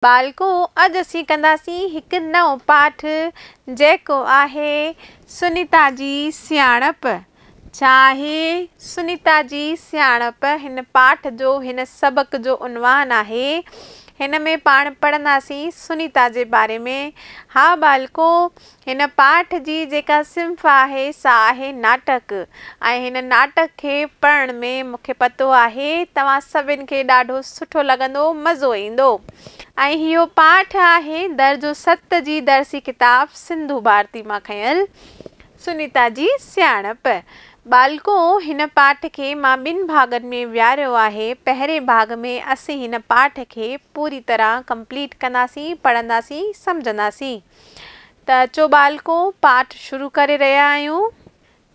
ٻالڪو، اڄ اسين ڪنداسين هڪ نئون پاٺ جيڪو آهي سنيتا جي سياڻپ. ڇا آهي سنيتا جي سياڻپ؟ هن پاٺ جو، هن سبق جو عنوان آهي. هن ۾ پاڻ پڙهنداسين سنيتا جي باري ۾. ها ٻالڪو، هن پاٺ جي جيڪا صنف آهي سا آهي ناٽڪ ۽ هن ناٽڪ کي پڙهڻ ۾ مون کي پتو آهي توهان سڀن کي ڏاڍو سٺو لڳندو مزو ايندو ۽ هيو پاٺ آهي درجو ست جي درسي ڪتاب سنڌو ڀارتي مان کنيل سنيتا جي سياڻپ ٻالڪو هن پاٺ کي مان ٻن ڀاڳن ۾ ويهاريو آهي پهرين ڀاڳ ۾ اسين هن پاٺ کي پوري طرح ڪمپليٽ ڪنداسين پڙهنداسين سمجهنداسين. ته اچو ٻالڪو پاٺ شروع ڪري رهيا آهيون.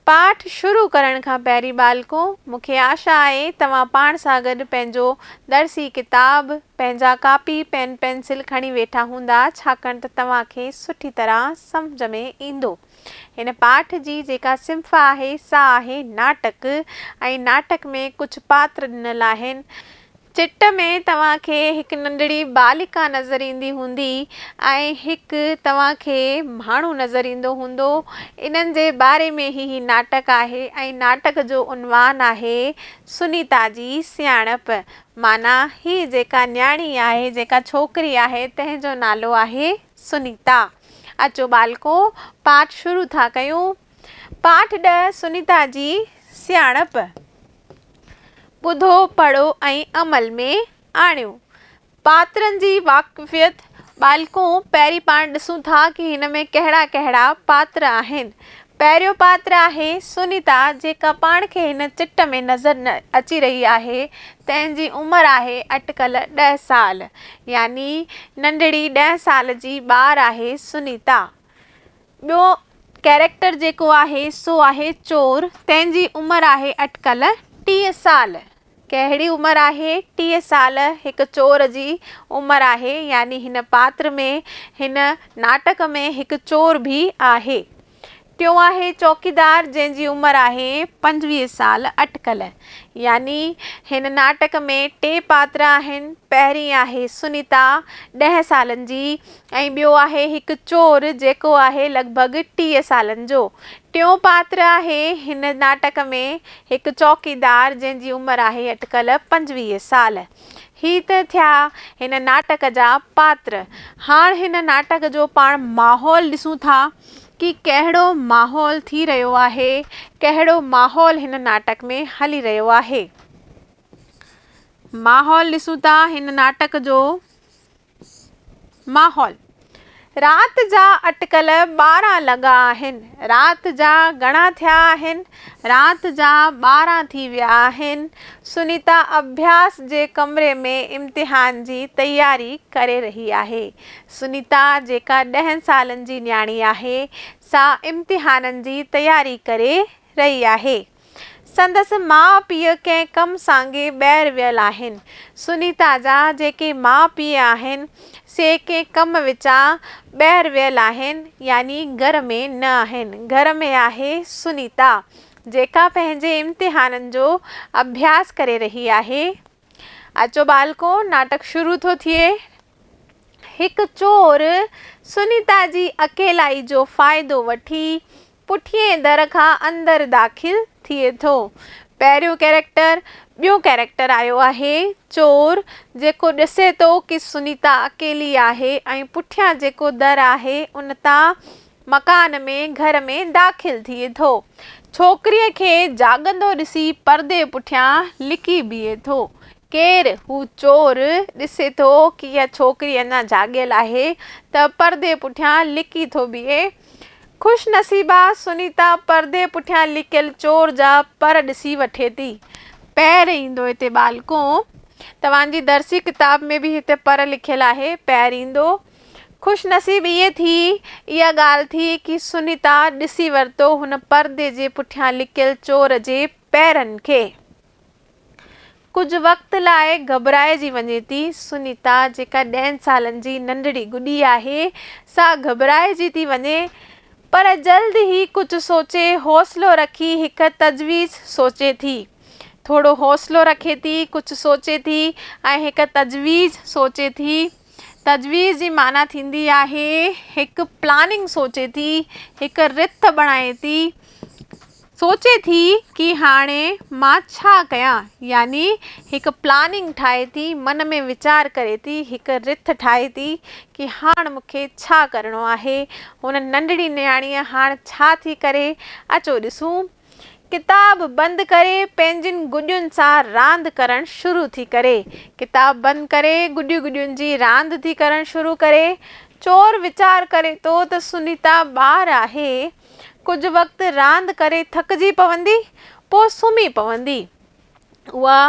پاٺ شروع ڪرڻ کان پهرين ٻالڪو مون کي آشا آهي توهان پاڻ سان گڏ پنهنجو درسي ڪتاب، پنهنجا ڪاپي، پين پينسل کڻي ويٺا هوندا ڇاڪاڻ ته توهان کي سٺي طرح سمجهه ۾ ايندو. هن پاٺ جي جيڪا صنف آهي سا آهي ناٽڪ ۽ ناٽڪ ۾ ڪجهه پاتر ڏنل آهن. چٽ ۾ توهان کي هڪ ننڍڙي ٻالڪا نظر ايندي هوندي ۽ هڪ توهان کي ماڻهو نظر ايندو هوندو. انهن جي باري ۾ ئي هي ناٽڪ آهي ۽ ناٽڪ جو عنوان آهي سنيتا جي سياڻپ معنيٰ هي جيڪا نياڻي آهي جيڪا ڇوڪري آهي تنهن جو نالو آهي سنيتا. اچو ٻالڪو پاٺ شروع ٿا ڪيون. پاٺ ڏهه سنيتا جي سياڻپ ٻڌو پڙهو ۽ عمل ۾ آڻيو. پاترن جي واقفيت ٻالڪو پهرين پاڻ ڏسون ٿا ڪي هن ۾ ڪهڙا ڪهڙا پاتر آهن. پهريون پاتر آهي سنيتا جيڪا پاڻ کي هن چٽ ۾ نظر نه اچي رهي آهي تنهن جي عمر آهي اٽڪل ڏهه سال يعني ننڍڙي ڏهه سال جي ٻار آهي سنيتا ٻيو ڪيريڪٽر جيڪو آهي سو آهي چور تنهن جي عمر آهي اٽڪل ٽيهه سال ڪهڙي عمر آهي؟ ٽيهه سال هڪ چور جي عمر آهي يعني هن پاتر ۾ هن ناٽڪ ۾ هڪ چور به آهي. ٽيون آهي چوڪيدار جنهن جي عمر آهي پنجويهه سال اٽڪل يعني هن ناٽڪ ۾ ٽي پاتر آهن پهرين آهي سنيتا ڏهه سالن جي ۽ ٻيو آهي هڪ چور جيڪو آهي لڳ ڀڳ ٽيهه سالن جو. ٽيون پاتر آهي هن ناٽڪ ۾ هڪ چوڪيدار جنهن جي عمر آهي اٽڪل پنجويهه سال. هي ته ٿيا هن ناٽڪ جا پاتر. هاڻ هن ناٽڪ جو پاڻ ماحول ڏسون ٿا ڪي ڪهڙو ماحول ٿي رهيو آهي ڪهڙو ماحول هن ناٽڪ ۾ هلي رهيو آهي. ماحول ڏسون ٿا هن ناٽڪ جو. ماحول، رات جا اٽڪل ٻارهن لڳا آهن. رات جا گهڻا ٿيا آهن؟ رات جا ٻارهن ٿي ويا آهن. سنيتا اڀياس جي ڪمري ۾ امتحان جي تياري ڪري رهي آهي. سنيتا جيڪا ڏهن سالن جي نياڻي آهي، سا امتحانن جي تياري ڪري رهي آهي. سندس ماء پيء ڪنهن ڪم سانگي ٻاهر ويل آهن. سنيتا جا جيڪي ماء پيء آهن سي ڪنهن ڪم وچان ٻاهر ويل آهن يعني گهر ۾ نه آهن. گهر ۾ آهي سنيتا جيڪا پنهنجي امتحانن جو اڀياس ڪري رهي آهي. اچو ٻالڪو ناٽڪ شروع ٿو ٿئي. هڪ چور سنيتا جي اڪيلائي جو فائدو وٺي پٺئين در کان اندر داخل ٿئي ٿو. پهريون ڪيريڪٽر ٻيون ڪيريڪٽر آيو آهي، چور، جيڪو ڏسي ٿو ڪي سنيتا اڪيلي آهي ۽ پٺيان جيڪو در آهي ان تان مڪان ۾ گهر ۾ داخل ٿئي ٿو. ڇوڪريء کي جاڳندو ڏسي پردي پٺيان لڪي بيهي ٿو. ڪير؟ هو چور ڏسي ٿو ڪي اها ڇوڪري اڃا جاڳيل آهي ته پردي پٺيان لڪي ٿو بيهي. خوش نصيبا سنيتا پردي پٺيان لڪيل چور جا پر ڏسي وٺي ٿي. پير ايندو هتي ٻالڪو. توهان جي درسي ڪتاب ۾ به هتي پر لکيل آهي. پير ايندو. خوش نصيب ائين ٿي اها ڳالهه ٿي ڪي سنيتا ڏسي ورتو هن پردي جي پٺيان لڪيل چور جي پيرن کي. ڪجهه وقت لاء گهٻرائجي وڃي ٿي. سنيتا جيڪا ڏهن سالن جي ننڍڙي گڏي آهي، سا گهٻرائجي ٿي وڃي، پر جلد ئي ڪجهه سوچي حوصلو رکي هڪ تجويز سوچي ٿي. ٿورو حوصلو رکي ٿي، ڪجهه سوچي ٿي ۽ هڪ تجويز سوچي ٿي. تجويز جي معنيٰ ٿيندي آهي هڪ پلاننگ سوچي ٿي، هڪ رٿ بڻائي ٿي. سوچي ٿي ڪي هاڻي مان ڇا ڪيان يعني هڪ پلاننگ ٺاهي ٿي من ۾ ويچار ڪري ٿي هڪ رٿ ٺاهي ٿي ڪي هاڻ مون کي ڇا ڪرڻو آهي هن ننڍڙي نياڻيء هاڻ ڇا ٿي ڪري اچو ڏسون ڪتاب بند ڪري پنهنجين گڏين سان راند ڪرڻ شروع ٿي ڪري ڪتاب بند ڪري گڏي گڏين جي راند ٿي ڪرڻ شروع ڪري چور ويچار ڪري ٿو ته سنيتا ٻار آهي ڪجهه وقت راند ڪري ٿڪجي پوندي، پوء سمهي پوندي. اها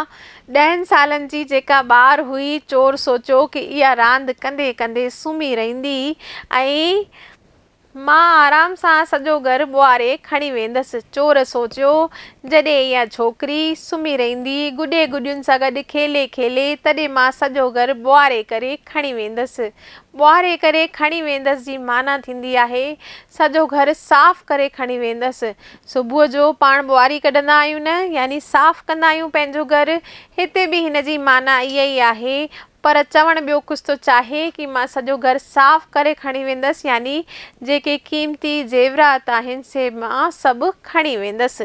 ڏهن سالن جي جيڪا ٻار هئي، چور سوچيو ڪه اها راند ڪندي ڪندي سمهي رهندي ۽ مان آرام سان سڄو گهر ٻوهاري کڻي ويندس. چور سوچيو، جڏهن اها ڇوڪري سمهي رهندي، گڏي گڏين سان گڏ کيلي کيلي، تڏهن مان سڄو گهر ٻوهاري ڪري کڻي ويندس. ٻوهاري ڪري کڻي ويندس جي معنيٰ ٿيندي آهي، سڄو گهر صاف ڪري کڻي ويندس. صبح جو پاڻ ٻواري ڪڍندا آهيون نه، يعني صاف ڪندا آهيون پنهنجو گهر. هتي به هن جي معنيٰ اها ئي آهي، پر چوڻ ٻيو ڪجهه ٿو چاهي ڪي مان سڄو گهر صاف ڪري کڻي ويندس، يعني جيڪي قيمتي زيورات آهن سي مان سڀ کڻي ويندس.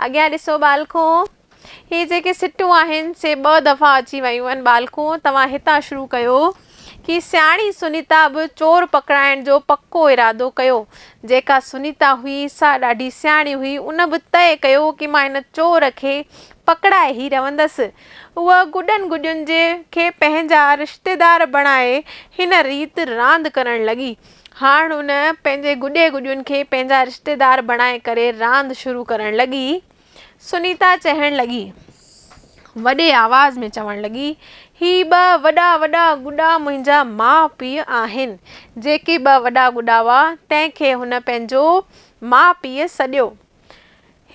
اڳيان ڏسو ٻالڪو! هي جيڪي سٽون آهن سي ٻه دفعا اچي ويون ان ٻالڪو توهان هتان شروع ڪيو ڪي سياڻي سنيتا به چور پڪڙائڻ جو پڪو ارادو ڪيو جيڪا سنيتا هئي سا ڏاڍي سياڻي هئي ان به طئي ڪيو ڪي مان ان چور کي پڪڙائي هي رهندس اهو گڏن گڏين جي کي پنهنجا رشتيدار بڻائي هن ريت راند ڪرڻ لڳي هاڻ ان پنهنجي گڏي گڏين کي پنهنجا رشتيدار بڻائي ڪري راند شروع ڪرڻ لڳي سنيتا چهڻ لڳي. وڏي آواز ۾ چوڻ لڳي، هي ٻه وڏا وڏا گڊا منهنجا ماء پيء آهن. جيڪي ٻه وڏا گڊا هئا، تنهن کي هن پنهنجو ماء پيء سڏيو.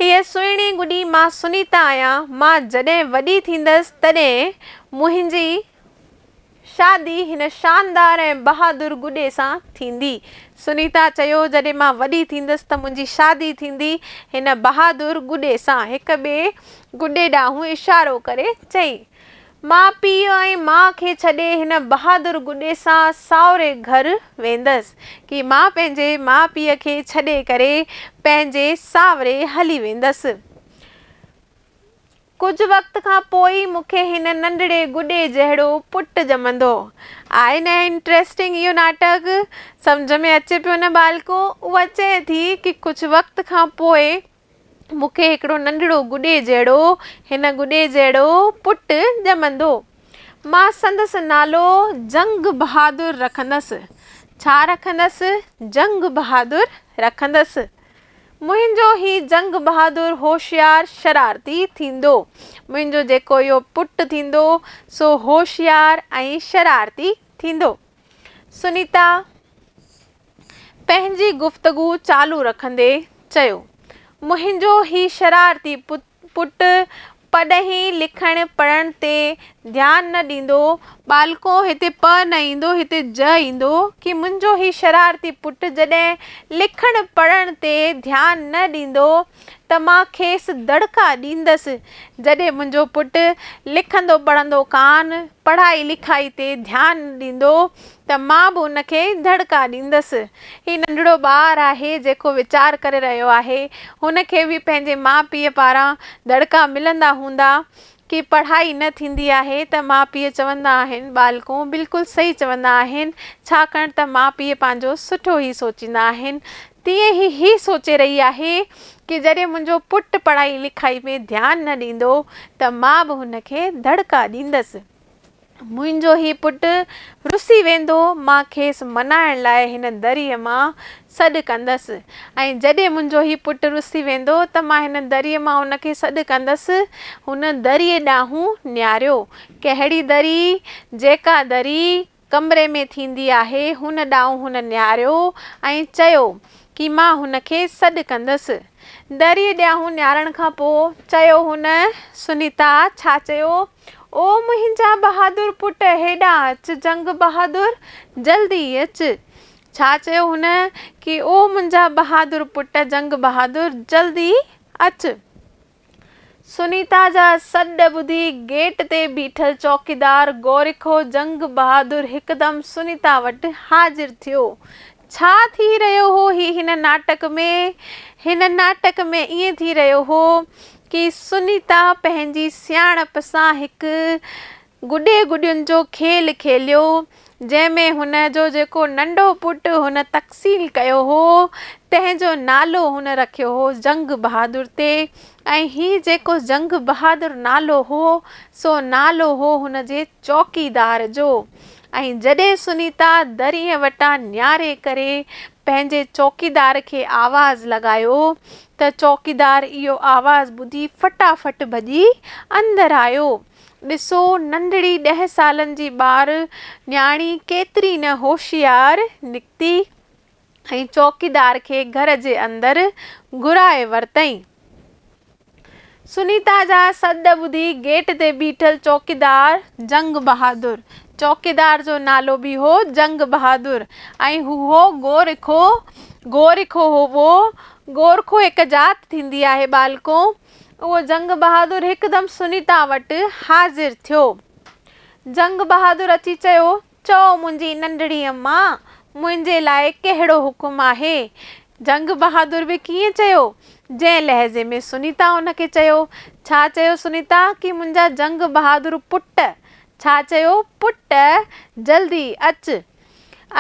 هيء سهڻي گڊي مان سنيتا آهيان. مان جڏهن وڏي ٿيندس، تڏهن منهنجي شادي هن شاندار ۽ بهادر گڏي سان ٿيندي. سنيتا چيو، جڏهن مان وڏي ٿيندس ته منهنجي شادي ٿيندي هن بهادر گڏي سان. هڪ ٻئي گڏي ڏانهن اشارو ڪري چيائين. مان پيء ۽ ماء کي ڇڏي هن بهادر گڏي سان ساهري گهر ويندس. ڪي مان پنهنجي ماء پيء کي ڇڏي ڪري پنهنجي ساهري هلي ويندس. ڪجهه وقت کان پوء ئي مون کي هن ننڍڙي گڏي جهڙو پٽ ڄمندو. آء نه انٽريسٽنگ اهو ناٽڪ. سمجهه ۾ اچي پيو نه ٻالڪو؟ اها چئي ٿي ڪي ڪجهه وقت کان پوء مون کي هڪڙو ننڍڙو گڏي جهڙو، هن گڏي جهڙو پٽ ڄمندو. مان سندس نالو جنگ بهادر رکندس. ڇا رکندس؟ جنگ بهادر رکندس. منهنجو هي جنگ بهادر هوشيار شرارتي ٿيندو. منهنجو جيڪو اهو پٽ ٿيندو سو هوشيار ۽ شرارتي ٿيندو. سنيتا پنهنجي گفتگو چالو رکندي چيو، منهنجو هي شرارتي پٽ پٽ پرڏيهين لکڻ پڙهڻ تي ڌيان نه ڏيندو. ٻالڪو هتي پ نه ايندو هتي ج ايندو ڪي منهنجو هي شرارتي پٽ جڏهن لکڻ پڙهڻ تي ڌيان نه ڏيندو ته مان کيس دڙڪا ڏيندس جڏهن منهنجو پٽ لکندو پڙهندو ڪانه پڙهائي لکائي تي ڌيان نه ڏيندو ته مان به ان کي دڙڪا ڏيندس. هي ننڍڙو ٻار آهي جيڪو ويچار ڪري رهيو آهي. هن کي به پنهنجي ماء پيء پاران دڙڪا ملندا هوندا ڪي پڙهائي نه ٿيندي آهي ته ماء پيء چوندا آهن ٻالڪون بلڪل صحيح چوندا آهن ڇاڪاڻ ته ماء پيء پنهنجو سٺو ئي سوچيندا آهن تيئن هي هي سوچي رهي آهي ڪي جڏهن منهنجو پٽ پڙهائي لکائي ۾ ڌيان نه ڏيندو ته مان به هن کي دڙڪا ڏيندس. منهنجو هي پٽ رسي ويندو، مان کيس منائڻ لاء هن دريء مان سڏ ڪندس، ۽ جڏهن منهنجو هي پٽ رسي ويندو ته مان هن دريء مان هن کي سڏ ڪندس. هن دريء ڏانهن نهاريو. ڪهڙي دري؟ جيڪا دري ڪمري ۾ ٿيندي آهي، هن ڏانهن هن نهاريو ۽ چيو، ڪي مان هن کي سڏ ڪندس. دريء ڏانهن نهارڻ کان پوء چيو هن، سنيتا، ڇا چيو؟ او منهنجا بهادر پٽ، هيڏانهن اچ، جنگ بهادر، جلدي اچ. ڇا چيو هن؟ ڪي او منهنجا بهادر پٽ، جنگ بهادر، جلدي اچ. سنيتا جا سڏ ٻڌي گيٽ تي بيٺل چوڪيدار گورکو جنگ بهادر هڪدم سنيتا وٽ حاضر ٿيو. ڇا ٿي رهيو هو هي هن ناٽڪ ۾؟ هن ناٽڪ ۾ ائين ٿي رهيو هو ڪي سنيتا پنهنجي سياڻپ سان هڪ گڏي گڏين جو کيل کيليو، جنهن ۾ هن جو جيڪو ننڍو پٽ هن تخصيل ڪيو هو، تنهن جو نالو هن رکيو هو جنگ بهادر تي ۽ هي جيڪو جنگ بهادر نالو هو، سو نالو هو هن جي چوڪيدار جو ۽ جڏهن سنيتا دريء وٽان نياري ڪري پنهنجي چوڪيدار کي آواز لڳايو ته چوڪيدار اهو آواز ٻڌي فٽا فٽ ڀڄي اندر آيو. ڏسو ننڍڙي ڏهه سالن جي ٻار نياڻي ڪيتري نه هوشيار نڪتي ۽ چوڪيدار کي گهر جي اندر گهرائي ورتائين. سنيتا جا سڏ ٻڌي گيٽ تي بيٺل چوڪيدار جنگ بهادر، چوڪيدار جو نالو به هو جنگ بهادر ۽ هو هو گورکو، گورکو هو گورکو هڪ ذات ٿيندي آهي ٻالڪو، اهو جنگ بهادر هڪدم سنيتا وٽ حاضر ٿيو. جنگ بهادر اچي چيو، چئو منهنجي ننڍڙيء ماء، منهنجي لاء ڪهڙو حڪم آهي؟ جنگ بهادر به ڪيئن چيو، جنهن لهجي ۾ سنيتا هن کي چيو. ڇا چيو سنيتا ڪي منهنجا جنگ بهادر پٽ! ڇا چيو پٽ! جلدي اچ!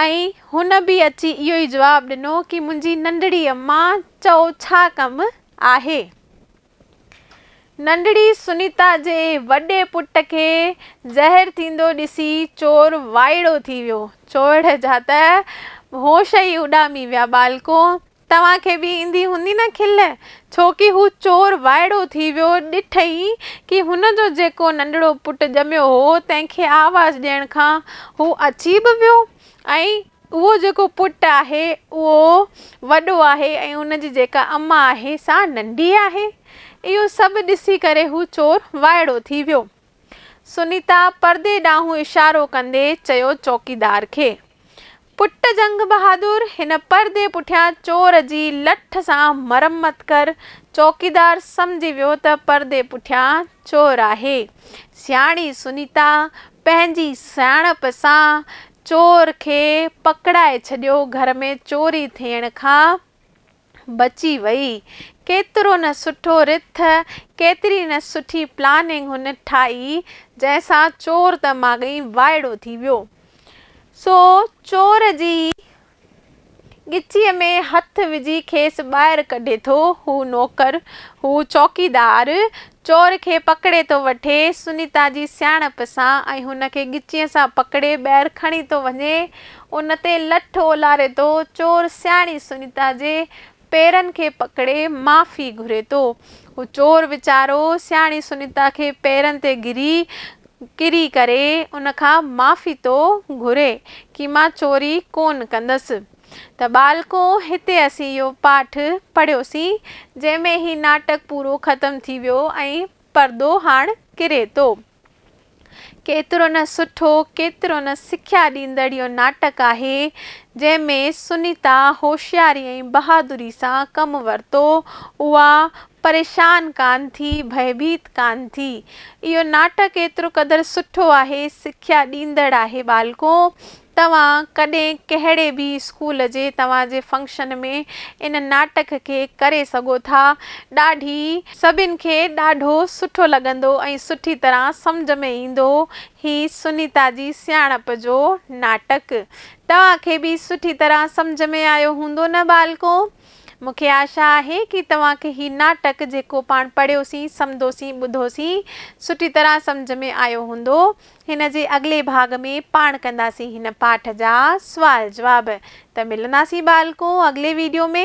۽ هن به اچي اهو ئي جواب ڏنو ڪي منهنجي ننڍڙيء ماء، چئو ڇا ڪم آهي. ننڍڙي سنيتا جي وڏي پٽ کي زهر ٿيندو ڏسي چور وائڙو ٿي ويو. چور جا ته هوش ئي اڏامي ويا. ٻالڪو! توهان کي به ايندي هوندي نه کل، ڇوڪي هو چور وائڙو ٿي ويو، ڏٺئي ڪي هن جو جيڪو ننڍڙو پٽ ڄميو هو، تنهن کي آواز ڏيڻ کان هو اچي به ويو ۽ اهو جيڪو پٽ آهي اهو وڏو آهي ۽ ان جي جيڪا اما آهي سا ننڍي آهي. اهو سڀ ڏسي ڪري هو چور وائڙو ٿي ويو. سنيتا پردي ڏانهن اشارو ڪندي چيو چوڪيدار کي. پٽ جنگ بهادر هن پردي پٺيان چور جي لٺ سان مرمت ڪر. چوڪيدار سمجهي ويو ته پردي پٺيان چور آهي. سياڻي سنيتا پنهنجي سياڻپ سان چور کي پڪڙائي ڇڏيو، گهر ۾ چوري ٿيڻ کان بچي وئي. ڪيترو نه سٺو رٿ، ڪيتري نه سٺي پلاننگ هن ٺاهي، جنهن سان چور ته ماڳهين وائڙو ٿي ويو. سو چور جي ڳچيء ۾ هٿ وجهي کيس ٻاهر ڪڍي ٿو. هو نوڪر، هو چوڪيدار، چور کي پڪڙي ٿو وٺي. سنيتا جي سياڻپ سان ۽ هن کي ڳچيء سان پڪڙي ٻاهر کڻي ٿو وڃي. ان تي لٺ اولاري ٿو. چور سياڻي سنيتا جي پيرن کي پڪڙي معافي گهري ٿو. هو چور ويچارو سياڻي سنيتا کي پيرن تي گري ڪري ڪري ان کان معافي ٿو گهري ڪي مان چوري ڪون ڪندس. ته ٻالڪو هتي اسين اهو پاٺ پڙهيوسين جنهن ۾ هي ناٽڪ پورو ختم ٿي ويو ۽ پردو هاڻ ڪري ٿو. ڪيترو نه سٺو، ڪيترو نه سکيا ڏيندڙ اهو ناٽڪ آهي، جنهن ۾ سنيتا هوشياري ۽ بهادري سان ڪم ورتو، اها پريشان ڪانه ٿي، ڀئڀيت ڪانه ٿي. اهو ناٽڪ ايترو قدر سٺو آهي، سکيا ڏيندڙ آهي ٻالڪو، توهان ڪڏهن ڪهڙي به اسڪول جي توهان جي فنڪشن ۾ ان ناٽڪ کي ڪري سگهو ٿا. ڏاڍي. سڀن کي ڏاڍو سٺو لڳندو ۽ سٺي طرح سمجهه ۾ ايندو. هي سنيتا جي سياڻپ جو ناٽڪ توهان کي به سٺي طرح سمجهه ۾ آيو هوندو نه ٻالڪو؟ مون کي آشا آهي ڪي توهان کي هي ناٽڪ جيڪو پاڻ پڙهيوسين، سمدوسين، ٻڌوسين سٺي طرح سمجهه ۾ آيو هوندو. هن جي اڳلي ڀاڳ ۾ پاڻ ڪنداسين هن پاٺ جا سوال جواب ته ملنداسين ٻالڪو اڳلي ويڊيو ۾.